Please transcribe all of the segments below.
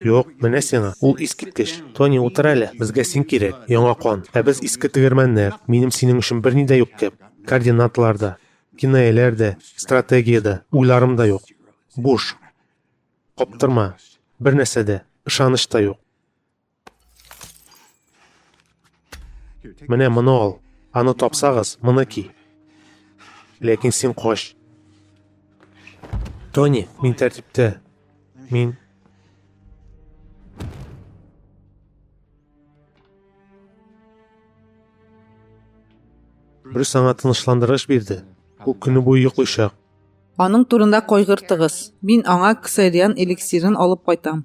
Юк, менә сиңа, ул искиткеч. Тони, утыр әле, безгә син кирәк, яңа кан. Ә без иске тегермәннәр, минем синең өчен берни дә юк кеб. Координаталар да, кинаяләр дә, стратегия дә, уйларым да юк. Буш. Каптырма. Бернәрсә дә, ышаныч та юк. Менә моны ал. Аны тапсагыз, моны ки. Ләкин син кош. Тони, мин тәртиптә. Мин Брюс аңа тынычландырыш бирде. Ул көне буе йоклыйчак. Аның турында кайгыртыгыз. Мин аңа ксериан эликсирын алып кайтам.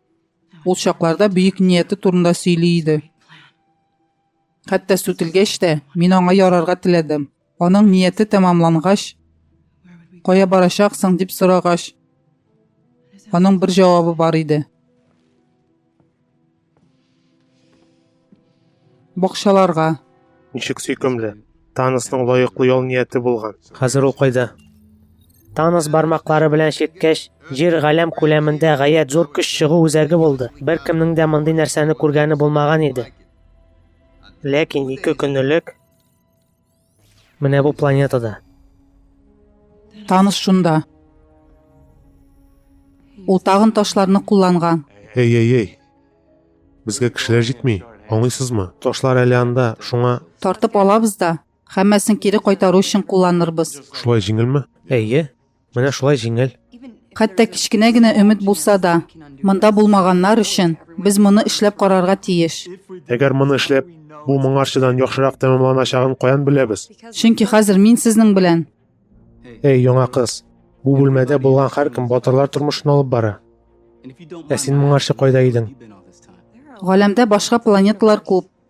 Ул чакларда бөек нияте турында сөйли иде. Хәтта сүтелгәч тә, мин аңа ярарга теләдем. Аның нияте тәмамлангач, кая барачаксың дип сорагач, аның бер җавабы бар иде. Бакчаларга. Ничек сөйкемле. Танысның лаеклы ял нияте булган. Хәзер ул кайда? Танос бармаклары белән чирткәч, җир галәм күләмендә гаять зур көч чыгу үзәге булды. Бер кемнең дә мондый нәрсәне күргәне булмаган иде. Ләкин ике көнлек Менә бу планетада. Таныш шунда. Ул тагын ташларны кулланган. Эй, эй, эй. Безгә кешеләр җитми, аңлыйсызмы? Ташлар әле анда, шуңа. Тартып алабыз да, һәммәсен кире кайтару өчен кулланырбыз. Шулай җиңелме? Әйе. Менә шулай җиңел. Хәтта кечкенә генә өмет булса да, монда булмаганнар өчен без моны эшләп карарга тиеш. Әгәр моны эшләп, бу моңарчыдан яхшырак тәмамланачагын каян беләбез? Чөнки хәзер мин сезнең белән. Эй, яңа кыз, бу бүлмәдә булган һәркем батырлар тормышын алып бара. Ә син моңарчы кайда идең? Галәмдә башка планеталар күп.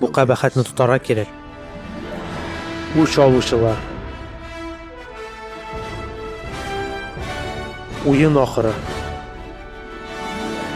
Бу кабахәтне тотарга кирәк. Үч алучылар. Уен ахыры.